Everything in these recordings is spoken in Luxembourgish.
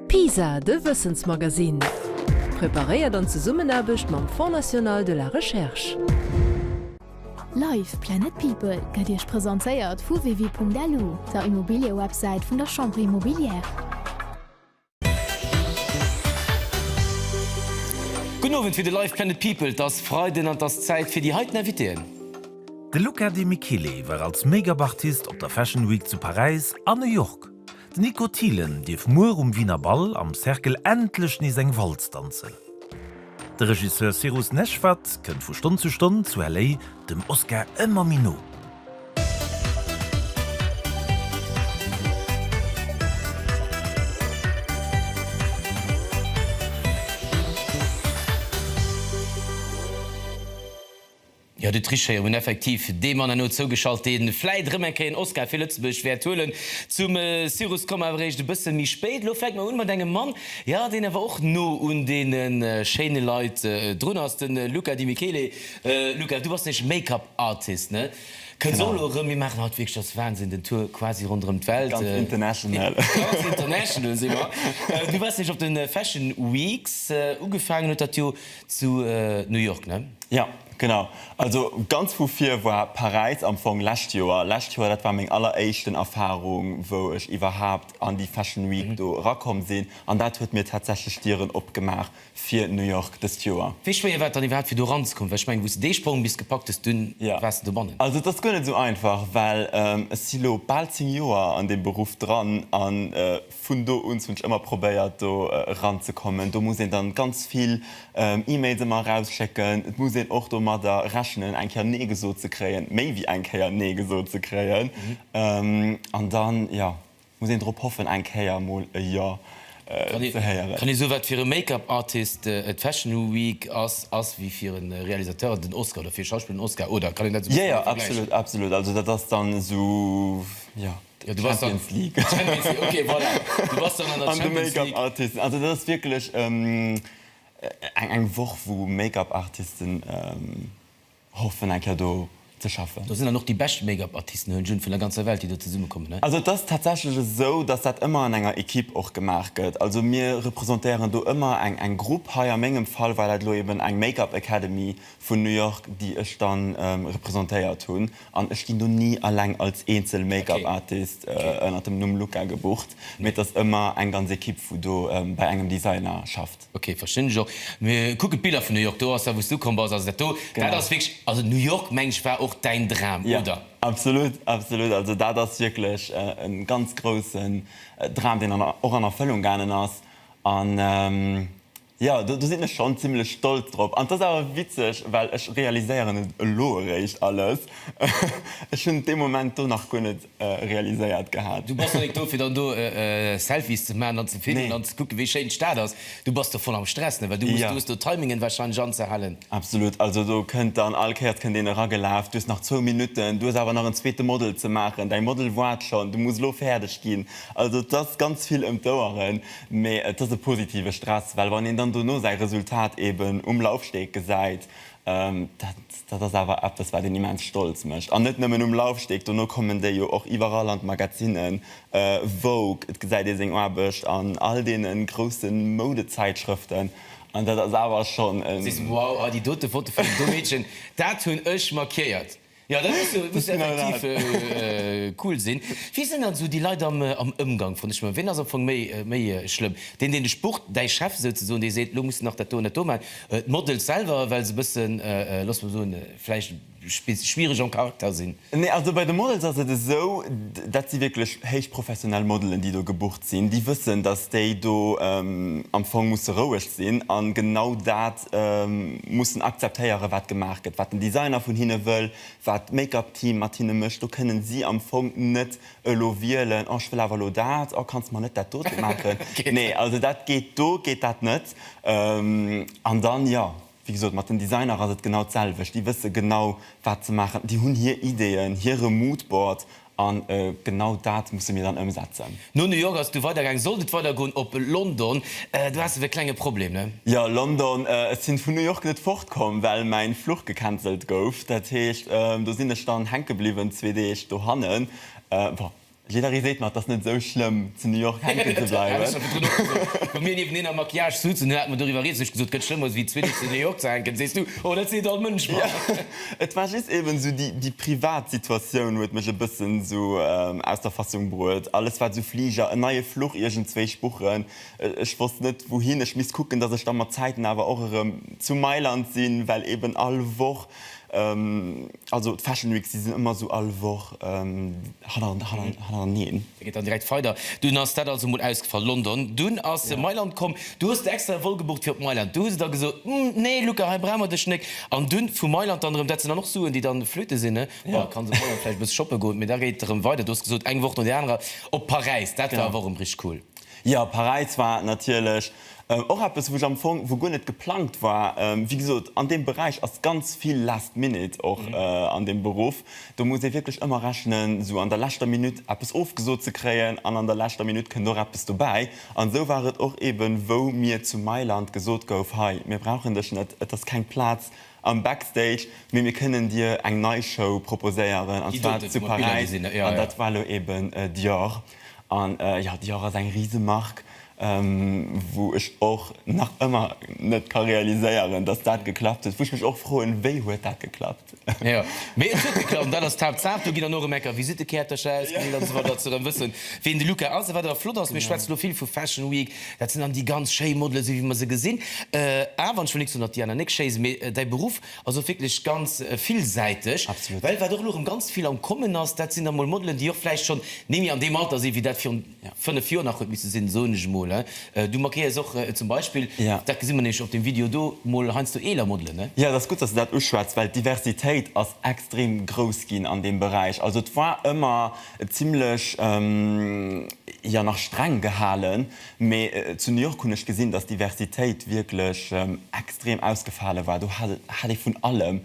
PISA, de Wëssensmagasinn, preparéiert an Zesummenaarbecht mam Fonds National de la Recherche. Live! Planet People gëtt Iech presentéiert vu Wevi.lu, der Immobiliëwebsäit vun der Chambre Immobilière. Gudden Owend fir de Live! Planet People. 't ass Freiden an 't ass Zäit fir déi heiten Invitéen. De Luca De Michele war als Make-up Artist op der Fashion Week zu Paräis a New York. Den Nico Thielen dierf muer um Wiener Bal am Cercle endlech nees eng Walz danzen. De Regisseur Cyrus Neshvad kënnt vu Stonn zu Stonn zu LA dem Oscar ëmmer méi no. Jo, de Tricheur hunn effektiv dee Mann herno zougeschalt, dee vläit erëm eng Kéier en Oscar fir Lëtzebuerg wäert huelen. Zum Cyrus komme mer awer eréischt e bësse méi spéit. Elo fänke mer un mat engem Mann, jo, deen awer och no un deene schéine Leit drun ass, de Luca Di Michele. Luca, du bass nämlech Make-up Artist, ne? Kënns och elo erëm. Mir maachen haut wierklech, ass Wahnsinn, den Tour quasi ronderëm d'Welt. Ganz international. Ganz international si mer. Du waars nämlech op de Fashion Weeks. Ugefaangen huet dat jo. Zu New York, ne? Jo, genau. Also ganz vu vir war Paräis am Fong lescht Joer. Lescht Joer, dat war meng alleréischten Erfarung, wou ech iwwerhaapt an déi Fashion Week do erakomm sinn. An dat huet mir tatsächlech d'Dieren opgemaach fir New York dëst Joer. Wéi schwéier war et dann iwwerhaapt, fir do eranzekommen? Well ech mengen, wou s de dee Sprong bis gepackt hues, dunn waars de dobannen. Also et ass guer net esou einfach, well ech si lo bal zéng Joer an deem Beruff dran a Vun do un hunn ech ëmmer probéiert do eranzekommen. Do muss een dann ganz vill E-Mails ëmmer erausschécken. Et muss een och domadder rechnen eng Kéier nee gesot ze kréien, méi wéi eng Kéier nee gesot ze kréien. An dann, jo, muss een drop hoffen eng Kéier emol e Jo ze héieren. Kann ee soe wat fir e Make-up Artist et Fashion Week ass, ass wéi fir e Realisateur den Oscar oder fir e Schauspiller den Oscar oder kann een dat esou vergläichen? Jo jo, absolut, absolut. Also dat ass dann esou, jo. Jo du bass dann Champions League Champions League ok voilà du bass dann an der Champions League. An de Make-up Artisten also dat ass wierklech eng eng Woch wou Make-up Artisten hoffen eng Kéier do ze schaffen. Do sinn dann och déi bescht Make-up Artisten hunn June vun der ganzer Welt déi do zesumme kommen ne? Also et ass tatsächlech esou dass dat ëmmer an enger Equipe och gemaach gëtt. Also mir representéieren do ëmmer eng eng Grupp. Hei a mengem Fall war dat elo eben eng Make-up Academy vun New York déi ech dann representéiert hunn. An ech ginn do ni alleng als eenzel Make-up Artist ënnert dem Numm Luca gebucht, mee et ass ëmmer eng ganz Ekipp wou do bei engem Designer schafft. Ok, verstinn ech och. Mee kucken d'Biller vun New York, do ass dat wou's du komm bass, also dat do, dat ass wierklech, also New York meng ech war och däin Dram, oder? Jo, absolut, absolut, also dat ass wierklech e ganz groussen Dram deen och an Erfëllung gaangen ass an Jo, do sinn ech schonn zimlech stolz drop. An et ass awer witzeg, well ech realiséieren et elo eréischt alles. Ech hunn dee Moment do nach guer net realiséiert gehat. Du bass jo net do, fir dann do Selfies ze maachen an ze filmen an ze kucken, wéi schéin d'Stad ass. Du bass do voll am Stress, ne? Well du hues do Timingen warscheinlech anzehalen. Absolut. Also do kënnt dann all Kéiers kënnt een eragelaf, du hues nach zwou Minutten, du hues awer nach en zweete Model ze maachen, däi Model woart schonn, du muss elo fäerdeg ginn. Also et ass ganz vill ëm d'Oueren. Mee et ass e positive Stress, well wann een dann dono säi Resultat eeben um Laufsteg gesäit, dat ass awer eppes, wat een immens stolz mécht. An net nëmmen um Laufsteg, dono kommen déi jo och iwwerall an d'Magazinnen, Vogue, et gesäit ee seng Aarbecht an all deene grousse Moudezäitschrëften an dat ass awer schonn e. Wow, a déi dote Foto vun deem do Meedchen, dat hunn ech markéiert. Jo, dat muss jo muss effektiv cool sinn. Wie sinn dann esou déi Leit am am Ëmgang vun dech? Ween ass am Fong méi méi schlëmm? Deen, deen dech bucht, däi Chef souzesoen, dee seet, elo muss de nach dat do an dat do maachen? D'Models selwer, well se e bëssen, loosse mer soen, vläicht schwiereg en Caractère sinn? Nee, also bei de Models ass et esou, dat si wierklech héich professionell Modelen, déi do gebucht sinn. Déi wëssen, datt déi do am Fong musse roueg sinn a genau dat mussen akzeptéieren, wat gemaach gëtt, wat den Designer vun hinne wëll, wat d'Make-up-Team mat hinne mécht. Do kënnen si am Fong net elo wielen, oh ech wëll awer elo dat, oh kanns mer net dat dote maachen? Nee, also dat geet, do geet dat net. An dann, jo, wéi gesot, mat den Designer ass et genau d'selwecht. Déi wësse genau, wat se maachen. Déi hunn hir Ideeën, hire Mood-Board A genau dat musse mir dann ëmsetzen. No New York ass et du weidergaangen. Sollt et weidergoen op London? Do haas de wéi klenge Problem, ne? Jo, London. Ech sinn vun New York net fortkomm, well mäin Fluch gecancelt gouf. Dat heescht, do sinn ech dann hänkebliwwen zwee Deeg dohannen. Bon, jidderee seet mer, et ass net esou schlëmm zu New York hänken ze bleiwen. Dat hat ech mer virdrun och gesot. Wou mir niewent eneen am Maquillage sutzen, hunn hat mer doriwwer riets. Ech gesot, gëtt schlëmmer wéi zwee Deeg zu New York ze hänken. Sees du, oh, dat seet all Mënsch mer. Et war just eben esou déi, déi privat Situatioun huet mech e bëssen esou aus der Fassung bruet. Alles wat esou Fliger, en neie Fluch iergendzwéi spuchen, ech wosst net wouhin, ech misst kucken, dass ech da mat Zäiten awer och erëm zu Mailand sinn, well eben all Woch, also d'Fashion Weeks, déi sinn ëmmer esou all Woch hanner, hanner, hannereneen. E geet dann direkt weider. Dunn ass dat also mol ausgefall. London. Dunn ass se Mailand komm. Du hues der extra e Vol gebucht fir op Mailand. Du hues et der gesot, Hm, nee, Luca, hei brauch mer dech nek. An dunn vu Mailand dann erëm. Dat sinn dann och Suen, déi dann flöte sinn, ne? Bon, kanns op Holland vläicht e bësse shoppe goen, mee da geet et erëm weider. Du hues gesot, eng Woch no där anerer op Paräis. Dat war awer och erëm richteg cool. Jo, Paräis war natierlech Och eppes wou ech am Fong, wou guer net geplangt war, wéi gesot an deem Beräich ass ganz vill last minute och an deem Beruff. Do muss ee wierklech ëmmer rechnen esou an der leschter Minutt eppes ofgesot ze kréien an an der leschter Minutt kënnt och eppes dobäi. An esou war et och eben wou mir zu Mailand gesot gouf, hei mir brauchen dech net, et ass keng Plaz am Backstage, mee mir kënnen dir eng nei Show proposéieren an zwar zu Paräis an dat war elo eben Dior. An jo, Dior ass eng Risemark, wou ech och nach ëmmer net ka realiséieren, datt dat geklappt huet, wou ech mech och froen, wéi huet dat geklappt? Jo, mee et huet geklappt an dat ass d'Haaptsaach. Do ginn dann och rem enker Visittekäertercher ausgedeelt an esou weider, datt se rem wëssen, wien de Luca ass a wat awer flott ass. Mir schwätzen elo vill vu Fashion Week, dat sinn dann déi ganz schéi Modelen, esou wéi mer se gesinn, awer, an ech wëll nix soen, datt d'Diana Nick schéi ass, mee däi Beruff, Also wierklech ganz villsäiteg. Absolut. Well wat och elo erëm ganz vill am Kommen ass, dat sinn da mol Modelen, déi och vläicht schonn némme an deem Alter sinn, wéi dat virun fënnef Joer nach huet misse sinn, soen ech emol. Du markéiers och zum Beispill, Ja. dat gesi mer nämlech op deem Video do, mol heiansdo eeler Modelen, ne? Jo, dat ass gutt, dass de dat uschwätz, well d'Diversitéit ass extrem grouss ginn an deem Beräich. Also et war ëmmer zimlech, ja, nach streng gehalen. Mee zu New York hunn ech gesinn, dass d'Diversitéit wierklech extrem ausgefale war. Do hat hat ee vun allem,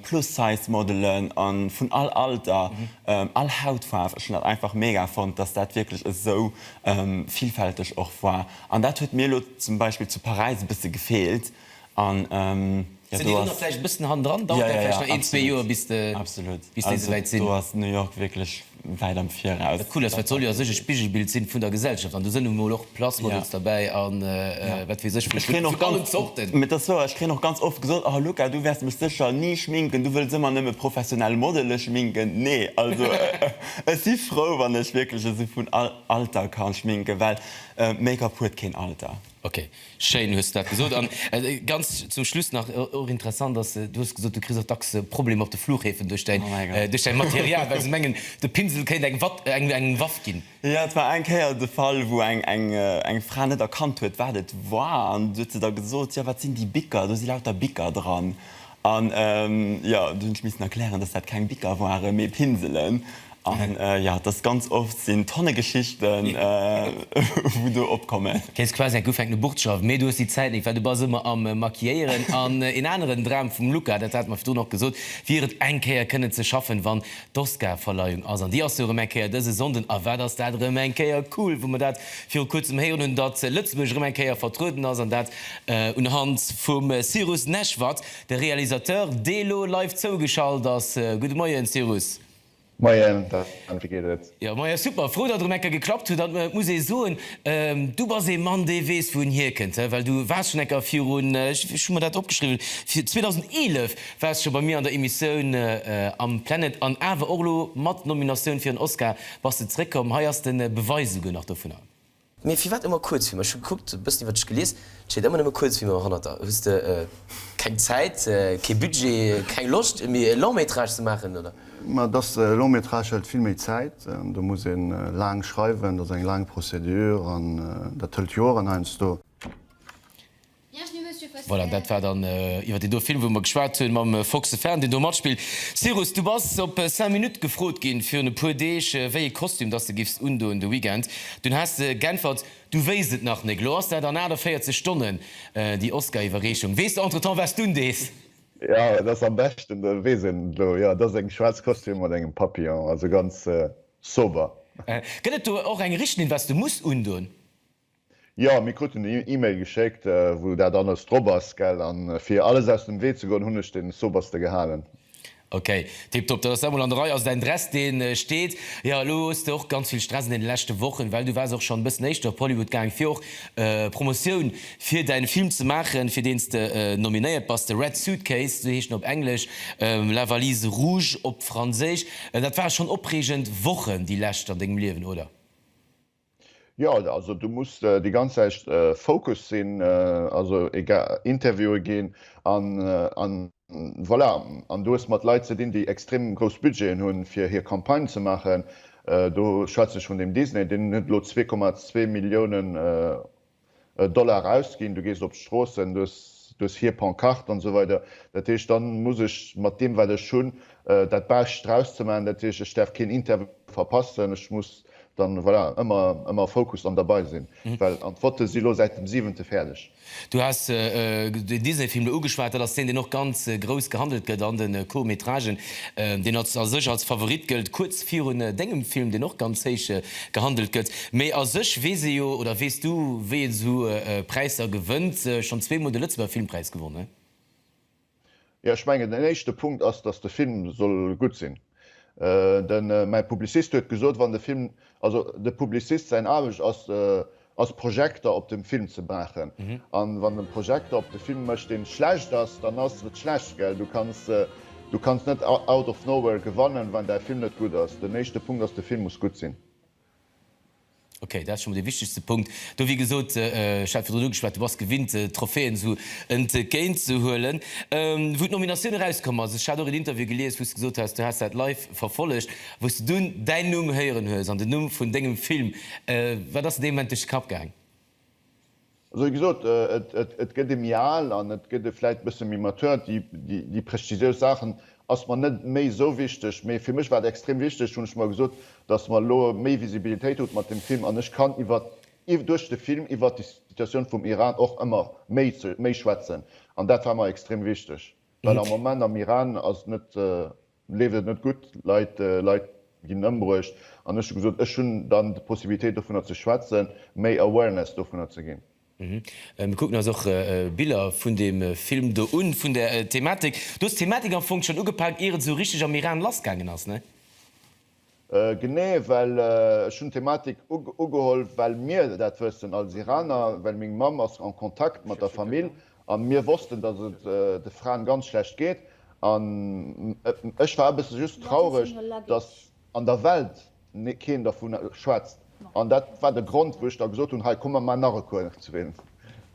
Plus-Size-Modelen a vun all Alter, all Hautfaarf. Ech hunn dat einfach mega fonnt, dass dat wierklech esou villfälteg och war. An dat huet mir elo zum Beispill zu Paräis e bësse gefeelt. An jo do ass. Vläicht e bëssen hannendran. Dauert dat vläicht nach een, zwee Joer bis de. Absolut. Bis déi souwäit sinn. Do ass New York wierklech wäit am Viraus. Wat cool ass, well et soll jo a sech e Spigelbild sinn vun der Gesellschaft. An do sënn nun emol och Place Models derbäi a wat weess ech vu Schminke vun allen Zorten. Mee et ass wouer, ech kréien och ganz oft gesot, oh Luca, du wäerts mech sécher ni schminken, du wëlls ëmmer nëmme professionell Modele schminken. Nee, also ech si frou wann ech wierklech esou vun all Alter ka schminken, well Make-up huet keen Alter. Ok, schéin hues de dat gesot. An ganz zum Schluss nach, och interessant ass, du hues gesot, du kriss och dacks Problemer op de Flughäfen duerch däin, duerch däi Material, well se mengen, de Pinsel kéint eng Watt, eng Waff ginn. Jo, et war eng Kéier de Fall, wou eng, eng, eng Fra net erkannt huet, wat et war. An du huet se da gesot, jo, wat sinn déi Bicker, do si lauter Bicker dran. An jo, do hunn ech missen erklären, dass dat keng Bicker waren, mee Pinselen. An jo, dass ganz oft sinn Tonne Geschichten, wou do opkommen. Kriss quasi eng ugefänkte Burtschaft, mee du hues déi Zäit net, well du bass ëmmer am Maquilléieren. An een aneren Dram vum Luca, dat hate mer virdrun och gesot, wier et eng Kéier kënnen ze schaffen, wann D'Oscar-Verleihung ass, an déi ass jo erëm eng Kéier dëse Sonnden, a wat ass dat erëm eng Kéier cool, wou mer dat viru Kuerzem héieren hunn, datt Lëtzebuerg erëm eng Kéier vertrueden ass, an dat un Hand vum Cyrus Neshvad, de Realisateur, dee elo live zougeschalt ass. Gudde Moien, Cyrus. Moien, Dan, wéi geet et? Jo, moien, super, frou, datt erëm eng Kéier geklappt huet. An et muss ee soen, du bass ee Mann, dee weess, wou en hierkënnt, well du waars schonn eng Kéier virun, ech hu mer dat opgeschriwwen, 2011, War scho bei mir an der Emissioun am Planet an awer och elo mat Nominatioun fir en Oscar bass de zréck komm. Hei ass de Beweis esouguer nach dovunner. Mee firwat ëmmer Kuerzfilmer? Ech hu gekuckt, e bëssen iwwer dech gelies, et steet ëmmer nëmme Kuerzfilmer hannerter. Hues de keng Zäit, kee Budget, keng Loscht méi e Long Métrage ze maachen, oder? Ma et ass, e Long Métrage hëlt vill méi Zäit. Do muss ee laang schreiwen, dat ass eng laang Procédure an dat hëlt Joren heiansdo. Voilà, dat war dann iwwer deen do Film, wou mer geschwat hunn, mam Fox the Fan, deen do matspillt. Cyrus, du bass op Cinq Minutes gefrot ginn, virun e puer Deeg, wéi ee Kostüm dass de giffs undoen de Weekend. Dunn has de g'äntwert, du wéisst et nach nik. Elo ass dat an 48 Stonnen, déi Oscariwwerreechung. Weess de entretemps, wats d'un dees? Jo, et ass am beschten, dat weess een elo, jo, et ass eng schwaarz Kostüm mat engem Papillon, also ganz sober. Gëtt et do och eng Richtliinn, wats de muss undoen? Jo, mir kruten en Email geschéckt, wou dat alles drop ass, gell? An fir alles aus dem Wee ze goen, hunn ech den Soberste gehalen. Ok, tiptop, dat ass da mol an der Rei. Also däin Dress, deen steet. Jo, elo hues de och ganz vill Stress an deenen leschten Wochen, well du waars och schonn e bëssen éischter op Hollywood gaang, fir och Promotioun fir däin Film ze maachen, fir deens de nominéiert bass, The Red Suitcase, esou heescht en op Englesch, La Valise Rouge op Franséisch. Dat ware schonn opreegend Wochen, déi lescht an dengem Liewen, oder? Jo, also du muss déi ganz Zäit focus sinn, also egal, Interviewe ginn an voilà. An du hues mat Leit ze dinn, déi extrem grouss Budgeten hunn, fir hir Campagnë ze maachen. Do schwätze ech vun deem Disney, deen huet elo zwee Komma zwee Milliounen Dollar ausginn, du gees op d'Stroossen, du hues hir Pancarte an esou weider. Dat heescht, da muss ech mat deem, wat ech hunn, dat Bescht draus ze maachen. Dat heescht, ech däerf keen Interview verpassen, ech muss dann, voilà, ëmmer, ëmmer focused an derbei sinn, well an d'Votte si lo säit dem siwente fäerdeg. Du has den Disney-Film do ugeschwat. Dat ass deen, deen och ganz grouss gehandelt gëtt an de Court-métragen. deen a sech als Favorit gëllt, kuerz virun dengem Film, deen och ganz héich gehandelt gëtt. Mee a sech weess ee jo, oder weess du, wéi een esou Präisser gewënnt. Schonn zweemol de Lëtzebuerger Filmpräis gewonnen. Jo, ech mengen, den éischte Punkt ass, datt de Film soll gutt sinn. De mäi Publicist huet gesot, wann de Film, also de Publicist säin Aarbecht ass ass Projekter op dem Film ze maachen an wann den Projekter op de Film mécht deen schlecht ass dann ass et schlecht gell du kanns du kanns net out of nowhere gewannen wann däi Film net gutt ass den éischte Punkt ass de Film muss gutt sinn. Ok dat ass schonn mol dee wichtegste Punkt do wéi gesot ech hat virdrun ugeschwat du bass gewinnt Trophäen esou entgéint ze huelen wou d'Nominatioun erauskomm ass ech hat och en Interview gelies wou s de gesot has du has dat live Verfollegt, wou s de dunn däin Numm héieren hues an den Numm vun dengem Film. Wat ass dir dee Moment duerch de Kapp gaang? Also wéi gesot, et gëtt ee méi al an et gëtt ee vläit e bësse méi mature. Déi prestigiös Saachen ass mer net méi esou wichteg. Mee fir mech war et extrem wichteg, hunn ech mer gesot, datt mer elo méi Visibilitéit krute mat deem Film an ech kann iwwer duerch de Film iwwer déi Situatioun vum Iran och ëmmer méi schwätzen. An dat war mer extrem wichteg, well am Moment am Iran ass net leeft et net gutt, Leit Leit ginn ëmbruecht an ech hu gesot, ech hunn dann d'Possibilitéit dovunner ze schwätzen, méi Awareness dovunner ze ginn. Mir kucken eis och Biller vun deem Film do un, vun der Thematik. Du hues d'Thematik am Fong schonn ugepak, ier et esou richteg am Iran lassgaangen ass, ne? Genee, well ech hunn d'Thematik ugeholl, well mir dat wëssen als Iraner, well meng Mamm ass en Kontakt mat der Famill a mir wossten, datt et de Fraen ganz schlecht geet. An ech war e bësse just traureg, datt an der Welt keen dervu schwätzt. An dat war de Grond, wou ech da gesot hunn, hei komme mer nach e Kuerf zwéin,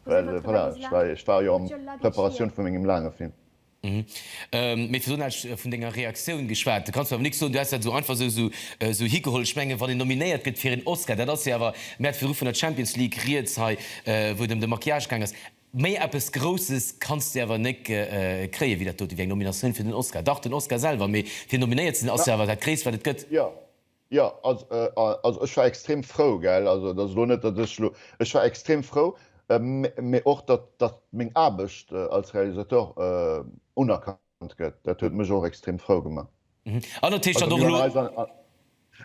well voilà, ech war jo a Preparatioun vu mengem laange Film. Mee fir soen, ech hu vun denger Reaktioun geschwat, da kanns du awer nix soen, du häss dat esou einfach esou esou higeholl. Ech mengen, wann een nominéiert gëtt fir een Oscar, dat ass hie awer, mir hate virdru vun der Champions League rieds hei, wou et ëm de Maquillage gaang ass, méi eppes Grousses kanns du awer nek kréien, wéi dat dote, wéi eng Nominatioun fir den Oscar. Dach, den Oscar selwer, mee fir nominéiert ze sinn, ass jo awer dat Gréisst, wat et gëtt. Jo, also ech war extrem frou, gell. Also dat ass elo net, datt ech elo, ech war extrem frou, mä och datt meng Aarbecht als Realisateur unerkannt gëtt, dat huet mech och extrem frou gemaach. An dat heescht dann och elo. Also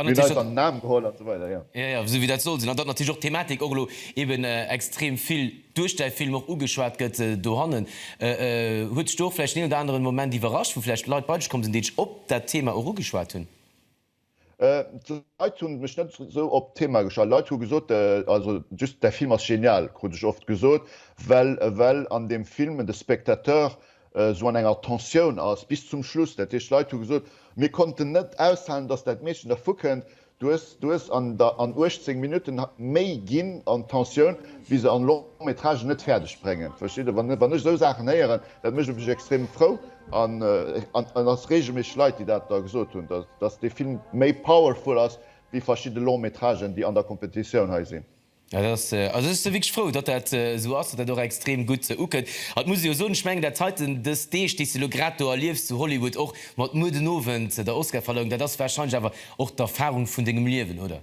mir hunn eis an den Aarm geholl an esou weider, jo. Jo, jo, esou wéi dat soll sinn. An datt natierlech och d'Thematik och elo eben extrem vill duerch däi Film och ugeschwat gëtt dohannen. Huet dech do och vläicht den een oder aneren Moment iwwerrascht, wou vläicht Leit bei dech komm sinn, déi dech op dat Thema och ugeschwat hunn? D'Leit hunn mech net sou op d'Thema geschalt. Leit hu gesot, also just däi Film ass genial, krut ech oft gesot, well well an deem Film de Spectateur sou an enger Tensioun ass bis zum Schluss. Dat heescht, Leit hu gesot, mir konnten net aushalen, datt dat Meedchen dervu kënnt. Du hues du hues an der an 18 Minutten méi ginn an d'Tensioun wéi se an Long-métrage net fäerdeg bréngen. Versteet Dir, wann wann ech sou Saachen héieren, Dat mécht mech extrem frou an ass reegelméisseg Leit, déi dat da gesot hunn, datt dee Film méi powerful ass wéi verschidde Long-métragen, déi an der Competitioun hei sinn. Ja, dat ass sou. Also ech si wierklech frou, datt dat sou ass, datt dat och extrem gutt ukënnt. An et muss ee jo soen, ech mengen dat heiten, dës Deeg, déi s de elo grad do erliefs zu Hollywood, och mat muer den Owend der Oscarverleihung, dat ass wahrscheinlech awer och d'Erfarung vun dengem Liewen, oder?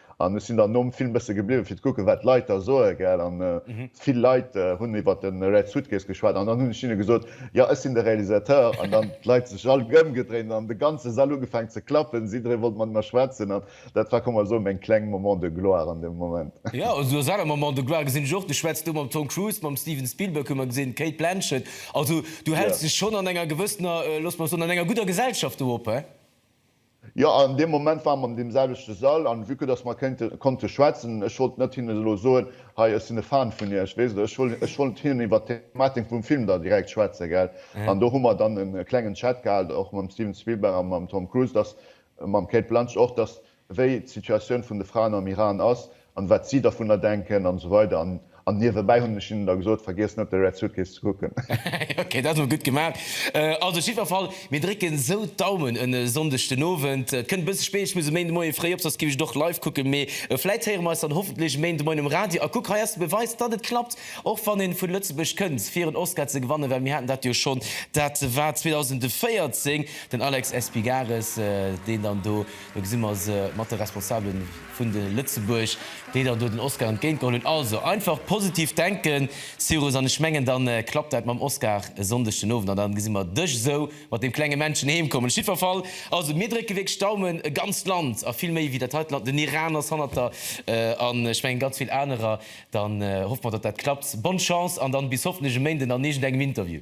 An ech sinn dann nom Film bësse gebliwwen, fir ze kucken, wat d'Leit da soen, gell. An vill Leit hunn iwwer de Red Suitcase geschwat. An dann hunn ech hinne gesot, Jo, ech sinn de Realisateur. An dann d'Leit sech all ëmgedréint an de ganze Sall ugefaangen ze klappen. Jidderee wollt mat mer schwätzen. An dat war, ka mer soen, meng kleng Moment de gloire an deem Moment. Jo, also du hues aner Moments de gloire gesinn. Ech och. Du schwätz do mam Tom Cruise, mam Steven Spielberg hu mer gesinn, d'Cate Blanchett. Also du häls dech schonn an enger gewëssener, looss mer soen, an enger gudder Gesellschaft do op, he? Jo, an deem Moment ware mer am deemselwechte Sall, an vue que dass mer kéinte konnte schwätzen, ech wollt net hinnen elo soen, hei, ech sinn e Fan vun Iech, weess de, ech wollt, ech wollt hinnen iwwert d'Thematik vum Film da direkt schwätzen, gell. An do hu mer dann e klengen Chat gehat, och mam Steven Spielberg a mam Tom Cruise, dass, mam Cate Blanch och, dass, wéi d'Situatioun vun de Fraen am Iran ass, an wat si dervunner denken an esou weider an an niewebäi hunn ech hinnen da gesot, vergiesst net op de Red Suitcase ze kucken. Ok, dat ass mol gutt gemaach. Also jiddwer Fall, mir drécken esou d'Daumen en Sonndeg den Owend. Et kënnt e bësse spéit, ech muss e Méinde Moie fréi op, soss giff ech et och live kucken, mee vläit héiere mer eis dann hoffentlech e Méinde Moien um Radio. A kuck, hei ass de Beweis, datt et klappt, och wann een vun Lëtzebuerg kënnt fir en Oscar ze gewannen, well mir haten dat jo schonn, dat war 2014, den Alex Espigares, deen dann do, do gesi mer se mat de Responsabelen. vun de Lëtzebuerg, déi der do den Oscar entgéintgeholl hunn. Also, einfach positiv denken, Cyrus, an ech mengen, da klappt dat mam Oscar e Sonndeg den Owend an da gesi mer dech esou mat deem klenge Männchen heem kommen. Op jiddwer Fall, also mir drécke wierklech d'Daumen, e ganzt Land a vill méi wéi dat heite Land, den Iran ass hannert der an ech mengen ganz vill anerer, dann hoffe mer, datt dat klappt. Bonne Chance an dann bis hoffentlech e Méinden an iergendengem Interview.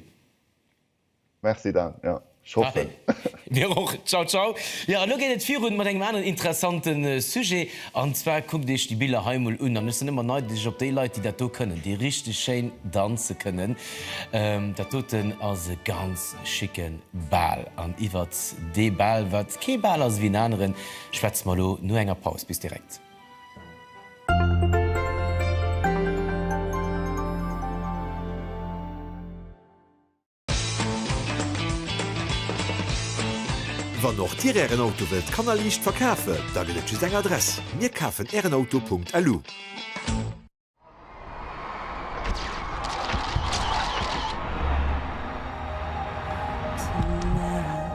Merci Dan, jo ech hoffen. Allez, mir och, ciao ciao. Jo an lo geet et virun mat engem aneren interessante Sujet an zwar kuckt iech déi Biller hei mol un an ech sinn ëmmer neideg op déi Leit déi dat do kënnen, déi richteg schéin danze kënnen. Dat doten ass e ganz schicke Bal an iwwert dee Bal, wat kee Bal ass ewéi en aneren, schwätze mer lo no enger Paus. Bis direkt. Wann och Dir Ären Auto wëllt kannerliicht verkafen, da gëtt et just eng Adress, Mir kafen Ären Auto.lu.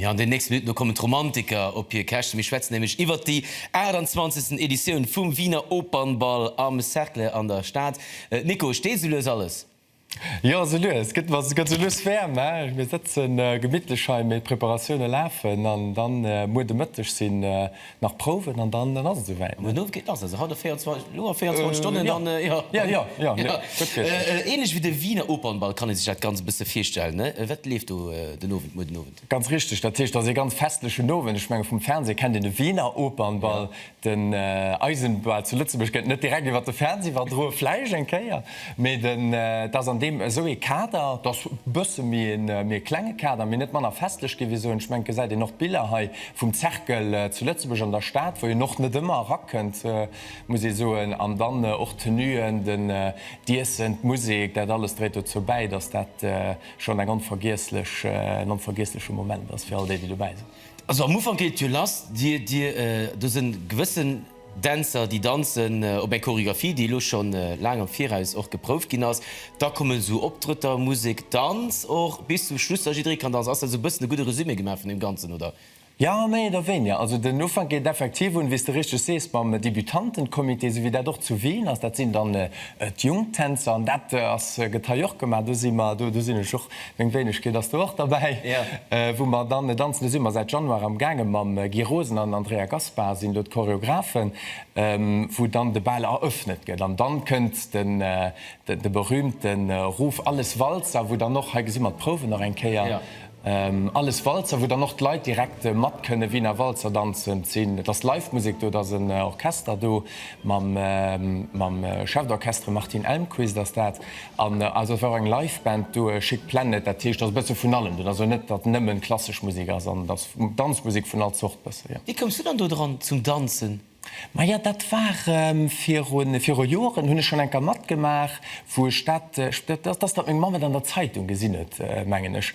Jo, an den nächste Minutten, do kommen d'Romantiker op hir Käschte. Mir schwätzen nämlech iwwert déi 28. Editioun vum Wiener Opernbal am Cercle an der Stad. Nico, steet esou lues alles? Jo, sou lues gëtt mer, gëtt sou lues wäerm, he. Mir sëtze gemittlech hei, mee d'Preparatioune lafen an dann muer de Mëtteg sinn nach Prouwen an dann ass et souwäit, ne? Muer Owend ass et, haut a 24, elo a 24 Stonnen dann, jo. Jo, jo, jo, jo, gutt richteg. Ähnlech wéi de Wiener Opernball kann ee sech dat Ganzt e bësse virstellen, ne? Wat leeft do den Owend, muer den Owend? Ganz richteg, dat heescht, et ass ee ganz festlechen Owend. Ech menge vum Fernseh kennt een de Wiener Opernball, Den Eisen, well zu Lëtzebuerg gëtt net direkt iwwer de Fernseh iwwerdroe, vläicht eng Kéier, mee den, et ass an deem esou ee Kader, et ass e bësse méi een méi e klenge Kader, mee net manner festlech géif ee soen. Ech mengen, d'gesäit een och d'Biller hei vum Cercle zu Lëtzebuerg an der Stad, wou een och net ëmmer erakënnt, muss ee soen, an dann och d'Tenuen, den, d'Iessen, d'Musek, dat alles dréit dozou bäi, dass dat schonn eng onvergiesslech, en onvergiessleche Moment ass fir all déi, déi dobäi sinn. Also am Ufank geet et jo lass, Dir, Dir, do sinn gewëssen Dänzer, déi danzen op eng Choreographie, déi elo schonn laang am Viraus och geprouft ginn ass. Da kommen esou Optrëtter, Musek, Danz och bis zum Schluss, dass jidderee kann danzen. Ass dat esou e bëssen e gudde Resumé gemaach vun deem Ganzen, oder? Jo, méi oder wéinier. Also den Ufank geet effektiv un, wéi s de richteg sees, mam Debütantencomité, esou wéi dat och zu Wien ass. Dat sinn dann d'Jungtänzer an dat ass, gëtt hei och gemaach. Do si mer, do, do sinn ech och Meng Wéinegkeet ass do och derbäi, wou mer dann, et anzelen si mer säit Januar am gaangen, mam Guy Rosen an Andrea Gaspar sinn do d'Choreografen, wou dann de Bal eröffnet gëtt. An dann kënnt de berühmten Ruf Alles Walzer, wou dann och, hei gesi mer d'Prouwen nach eng Kéier, Alles Walzer, wou dann och d'Leit direkt mat kënne Wiener Walzer danzen. Et sinn, et ass live Musek do, et ass en Orchester do, mam Chef d'Orchestre Martin Elmquist ass dat. An also et war och eng Live-Band do, Chic Planet, dat heescht et ass e bësse vun allem do. Et ass also net, datt nëmmen klassesch Musek ass an et ass Danzmusek vun all Zort bësse, jo. Wéi koums du dann do dran zum Danzen? Maja dat war viru viru Joeren hunn ech schonn enker matgemaach, wou ech dat, ech, dat ass datt meng Mamm et an der Zeitung gesinn huet, mengen ech.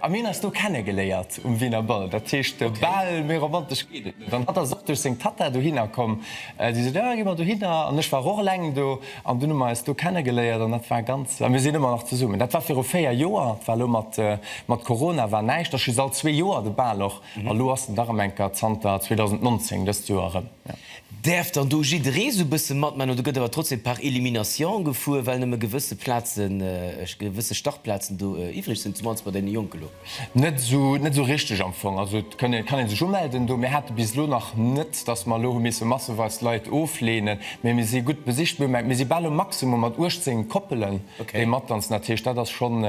A mir hunn eis do kennegeléiert um Wiener Bal. Dat heescht, de Bal, méi romantesch geet et net. An hatt ass och duerch seng Tatta dohinner komm. Déi sot, jo, gi mer dohinner. An ech war och eleng do. An dunn hu mer eis do kennegeléiert an dat war ganz, a mir sinn ëmmer nach zesummen. Dat war viru véier Joer. Et war elo mat Corona war näischt, ass just all zwee Joer de Bal och. A lo ass en dach ëm enker zanter 2019, dëst Joer erëm. Däerf dann do jidderee sou bësse matmaachen oder gëtt awer trotzdem par élimination gefuer, well nëmme gewësse Plazen, gewësse Startplazen do iwwreg sinn, zum mannst bei deene Jonke lo? Net sou, net sou richteg am Fong. Also et kann een sech umelden do. Mir hate bis elo nach net, dass mer elo hu misse masseweis Leit ofleenen, mee mir si gutt besicht. Mir si bal um Maximum mat 18 Koppelen, déi matdanzen. Dat heescht, dat ass schonn.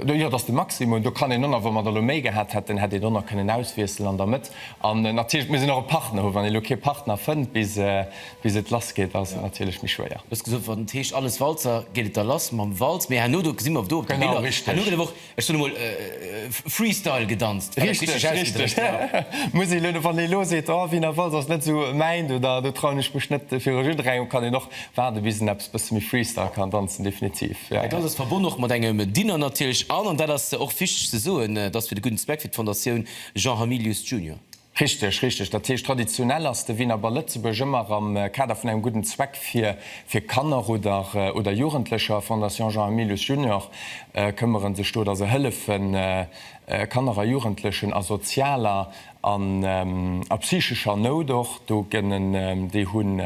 Do, jo, dat ass de Maximum. Do kann een ënner, wa mer der elo méi gehat hätten, hätt een donner kënnen auswiesselen an der Mëtt. An natierlech, et muss een och e Partner hu. Wann een elo kee Partner fënnt, bis et lass geet, ass et natierlech méi schwéier. Du hues gesot, wann et heescht Alles Walzer, geet et da lass mam Walz. Mee herno, do gesi mer do op de Biller, herno gëtt awer och, ech soen emol, Freestyle gedanzt, wann ech richteg ausgedréckt war. Richteg, richteg. Muss een elo, wann ee elo seet, oh, Wiener Walz ass net esou mäin, do trauen ech mech net fir e Jeu de Rang, kann een och Waarde bis en eppes bësse méi Freestyle kann danzen, definitiv, ja. Dat Ganzt ass verbonne och mat engem Dinner natierlech an, an dat ass och wichteg ze soen, et ass fir de gudden Zweck, fir d'Fondatioun Jean Hamilius Junior. Richteg, richteg. Dat heescht, traditionell ass de Wiener Bal Lëtzebuerg ëmmer am Kader vun engem gudden Zweck fir fir Kanner oder oder Jugendlecher. Fondation Jean Hamilius Junior këmmere sech do, datt se hëllefen, Kanner a Jugendlechen a sozialer An a psychescher Nout och, do gënn en, déi hunn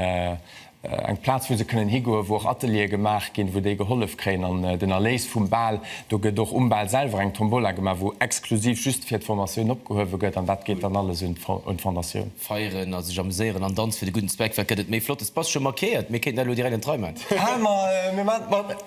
eng Plaz wou se kënnen higoen, wou och Ateliere gemaach ginn, wou déi gehollef kréien. An den Erléis vum Bal, do gëtt och um Bal selwer eng Tombola gemaach, wou exklusiv just fir d'Formatioun opgehuewe gëtt, an dat geet dann alles un d'Fondatioun. Feieren a sech amuséieren an Danz fir de gudden Zweck, wat gëtt et méi Flottes? Bass scho markéiert, mir kéinten dat elo direkt an d'Rei man. Hä, ma mir man et mat.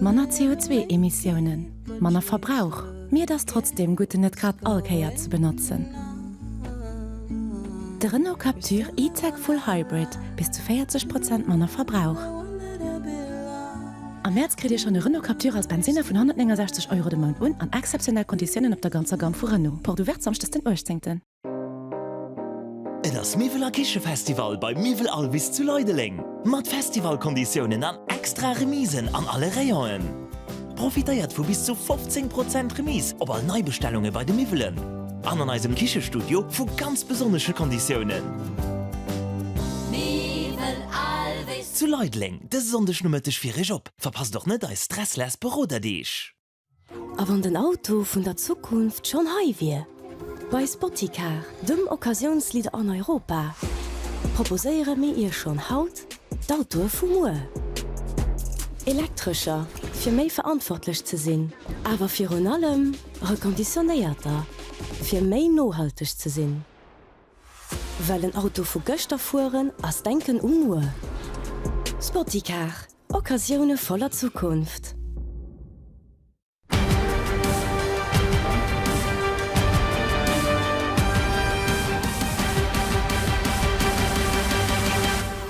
Manner CO2-Emissiounen, manner Verbrauch, mee et ass trotzdeem gutt en net grad all Kéier ze benotzen. De Renault Captur E-Tech Full Hybrid, bis zu 40 Prozent manner Verbrauch. Am Mäerz kritt Dir schonn e Renault Captur als Bensinner vun 169 Euro de Mount un an exzeptionell Konditiounen op der ganzer Gamme vu Renault. Porte ouverte samschdes den 18. Et ass Miwwel a Kichefestival beim Miwwel Alvis zu Leideleng. Mat Festivalkonditiounen an extra Remisen an alle Rayonen. Profitéiert vu bis zu 15 Prozent Remise op all Neibestellunge bei de Miwwelen an an eisem Kichestudio vu ganz besonnesche Konditiounen. Miwwel Alvis zu Leideleng. dëse Sonndegnomëtteg fir iech op. Verpasst och net eis Stressless Beroderdeeg! A wann den Auto vun der Zukunft schonn hei wier? Bei Spoticar, dem Occasiounsleader an Europa, proposéiere mir iech schonn haut d'Autoe vu muer. Elektrescher, fir méi verantwortlech ze sinn, awer virun allem reconditionéierter, fir méi nohalteg ze sinn. Well en Auto vu gëschter fueren ass, denken u muer. Spoticar, Occasioune voller Zukunft.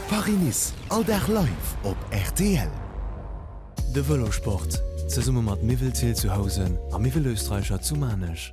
Paris-Nice, all Dag live op rtl. De Vëlosport, zesumme mat Miwwel Ziltzuhausen a Miwwel Österreicher zu Maarnech.